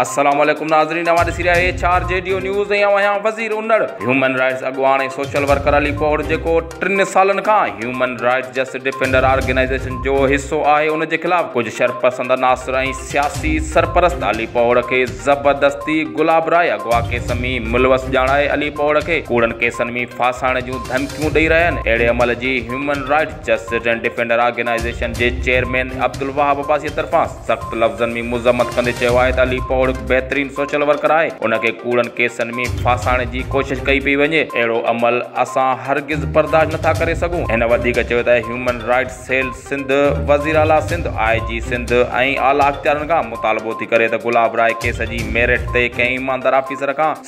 السلام عليڪم ناظرين اوهان ڏسي رهيا H R G D news ۽ اوهان آهيان وزير انڙ هيومن رائٽس اڳواڻ ۽ سوشل ورڪر علي پوڙ جيڪو ٽن سالن کان human rights justice defender organisation جو حصو آهي ان جي خلاف ڪجهه شرپسند عناصر ۽ سياسي سرپرست علي پوڙ کي زبردستي گلاب راء اغوا ڪيس ۾ ملوث ڄاڻائي علي پوڙ کي ڪوڙن ڪيسن ۾ ڦاسائڻ جون ڌمڪيون ڏئي رهيا آهن اهڙي عمل جي human rights justice and defender organisation جي چيئرمين عبدالوهاب عباسيء طرفان سخت لفظن ۾ مذمت ڪندي چيو آهي ته علي پوڙ هڪ بهترين سوشل ورڪر آهي، ان کي ڪوڙن ڪيسن ۾ ڦاسائڻ جي ڪوشش ڪئي پئي وڃي، اهڙو عمل اسان هرگز برداشت نٿا ڪري سگهون. هن وڌيڪ چيو ته هيومن رائٽس سيل سنڌ، وزيراعليٰ سنڌ، آء جي سنڌ ۽ اعليٰ اختيارين کان مطالبو ٿي ڪري ته گلاب راء ڪيس جي ميرٽ تي ڪنهن ايماندار آفيسر کان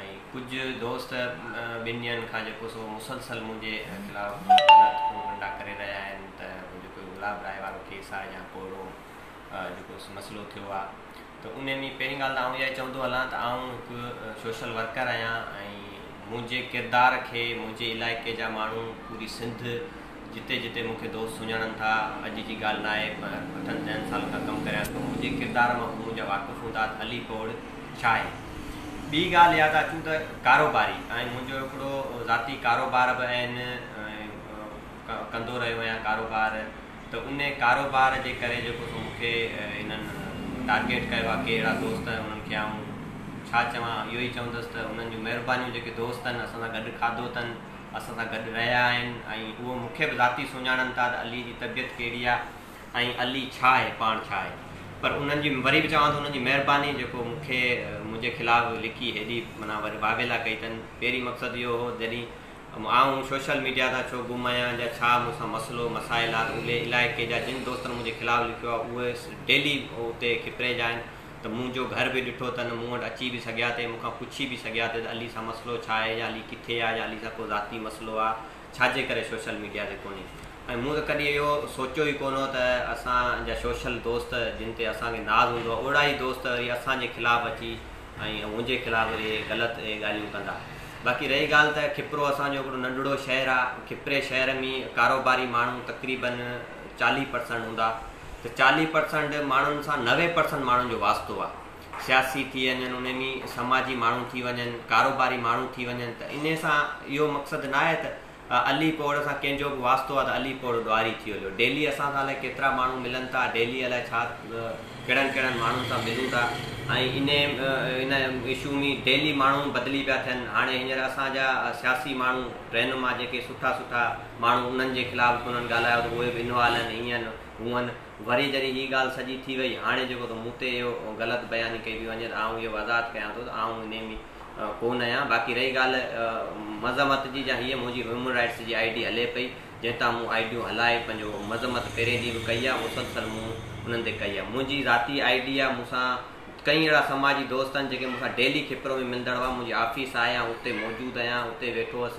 ۽ ڪجهه دوست ٻن ڏينهن کان جيڪو سو مسلسل منهنجي خلاف غلط پروپنڊا ڪري رهيا آهن ته جيڪو هي گلاب راء وارو ڪيس آهي يا ڪو اهڙو جيڪو مسئلو ٿيو آهي ته ان ۾ پهرين ڳالهه ته آئون اها ئي چوندو هلان ته آئون هڪ سوشل ورڪر آهيان ۽ منهنجي ڪردار کي منهنجي علائقي جا ماڻهو پوري سنڌ جتي جتي مون کي دوست سڃاڻن ٿا، اڄ جي ڳالهه ناهي پر اٺن ڏهن سالن کان ڪم ڪريان ٿو، منهنجي ڪردار مان به منهنجا واقف هوندا ته علي پوڙهه ڇاهي. ٻي ڳالهه ياد اچون ته ڪاروباري آهيان، منهنجو هڪڙو ذاتي ڪاروبار به آهن ۽ ڪندو رهيو آهيان ڪاروبار ته ان ڪاروبار جي ڪري جيڪو سو مون کي هنن ٽارگيٽ ڪيو آهي ڪي اهڙا دوست آهن انهن کي آئون ڇا چوان اهو ئي چوندس ته انهن جون مهربانيون جيڪي دوست آهن اسان سان گڏ کاڌو اٿن، اسان سان گڏ رهيا آهن ۽ هو مون کي به ذاتي سڃاڻن ٿا ته علي جي طبيعت ڪهڙي آهي ۽ علي ڇا آهي پاڻ ڇا آهي پر انهن جي وري به چوان ٿو انهن جي مهرباني جيڪو مون کي منهنجي خلاف لکي هيڏي معنيٰ واويلا ڪئي اٿن پهرين مقصد اهو هو جڏهين آئون سوشل ميڊيا تان ڇو گم آهيان جا ڇا مون سان مسئلو مسائل آهي اهي علائقي جا جن دوستن منهنجي خلاف لکيو آهي اهي ڊيلي اتي کپري جا آهن ته مون جو گهر به ڏٺو اٿن، مون وٽ اچي به سگهيا ٿي، مون کان پڇي به سگهيا ٿي ته علي سان مسئلو ڇا آهي يا علي ڪٿي آهي يا علي سان ڪو ذاتي مسئلو آهي، ڇا جي ڪري سوشل ميڊيا تي ڪونهي ۽ مون ته ڪڏهن اهو سوچيو ئي ڪونه هو ته اسان جا سوشل دوست جن تي اسان کي ناز هوندو آهي اهڙا ئي دوست وري اسان جي خلاف اچي ۽ منهنجي خلاف وري غلط اهي ڳالهيون ڪندا. باقي رهي ڳالهه ته کپرو اسان جو هڪڙو ننڍڙو شهر آهي، کپري شهر ۾ ڪاروباري ماڻهو تقريبن چاليهه پرسنٽ هوندا، ته چاليهه پرسنٽ ماڻهن سان نوي پرسنٽ ماڻهن جو واسطو آ سياسي ٿي وڃن انهي ۾ سماجي ماڻهو ٿي وڃن ڪاروباري ماڻهو ٿي وڃن ته انهي سان اهو مقصد ناهي ته علي پوڙهه سان ڪنهن جو به واسطو آ ته علي پوڙهه ڏوهاري ٿي هليو ڊيلي اسان سان الائي ڪيترا ماڻهو ملن ٿا ڊيلي الائي ڇا ڪهڙن ڪهڙن ماڻهن سان ملون ٿا ۽ انهي ان اشو ۾ ڊيلي ماڻهو بدلي پيا ٿين هاڻي هينئر اسان جا سياسي ماڻهو رهنما جيڪي سٺا سٺا ماڻهو انهن جي خلاف ڪونهن ڳالهايو ته اهي به انوالهن هينئن هونئن. وري جڏهن هي ڳالهه سڄي ٿي وئي، هاڻي جيڪو ته مون تي اهو غلط بياني ڪئي پئي وڃي ته آئون اهو وضاحت ڪيان ٿو ته آئون انهي ۾ ڪونهن آهيان. باقي رهي ڳالهه مذمت جي جا هيء منهنجي هيومن رائيٽس جي آئي ڊي هلي پئي، جنهن تان مون آئي ڊيون هلائي پنهنجو مذمت پهرين ڏينهن به ڪئي آهي، مسلسل مون انهن تي ڪئي آهي. منهنجي ذاتي آئي ڊي آهي، مون سان ڪئين اهڙا سماجي دوست آهن، جيڪي مون سان ڊيلي کپرو ۾ ملندڙ هئا، منهنجي آفيس آهي، آئون اتي موجود آهيان، اتي ويٺو هوس.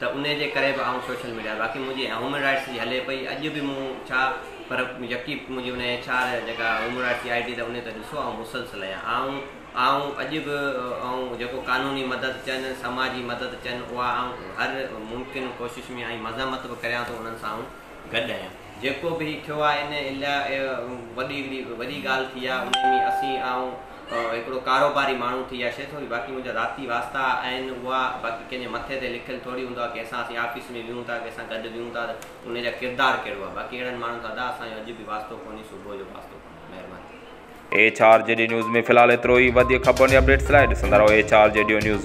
ته انهي جي ڪري به آئون سوشل ميڊيا باقي منهنجي هيومن رائٽس جي هلي پئي اڄ به مون ڇا پر يڪي منهنجي انهي ايڇ آر جيڪا هيومن رائٽس جي آئي ڊي ته انهي ته ڏسو آئون مسلسل آهيان آئون آئون اڄ به آئون جيڪو قانوني مدد چئن سماجي مدد چئن اها آئون هر ممڪن ڪوشش ۾ ۽ مذمت به ڪريان ٿو انهن سان آئون گڏ آهيان. جيڪو به هي ٿيو آهي ان الاء وڏي هڪڙي وڏي ڳالهه ٿي آهي انهي ۾ اسين آئون هڪڙو ڪاروباري ماڻهو ٿي آشي ٿو باقي منهنجا ذاتي واسطا آهن اها باقي ڪنهن جي مٿي تي لکيل ٿوري هوندو آهي ڪنهن سان اسين آفيس ۾ ويهون ٿا ڪنهن سان گڏ ويهون ٿا ته انهي جا ڪردار ڪهڙو آهي باقي اهڙن ماڻهن سان ادا اسان جو اڄ به واسطو ڪونهي صبح جو به واسطو ڪونهي مهرباني. H R G D news ۾ في الحال ايترو ئي وڌيڪ خبرن ۽ اپڊيٽس لاء ڏسندا رهو H R G D news.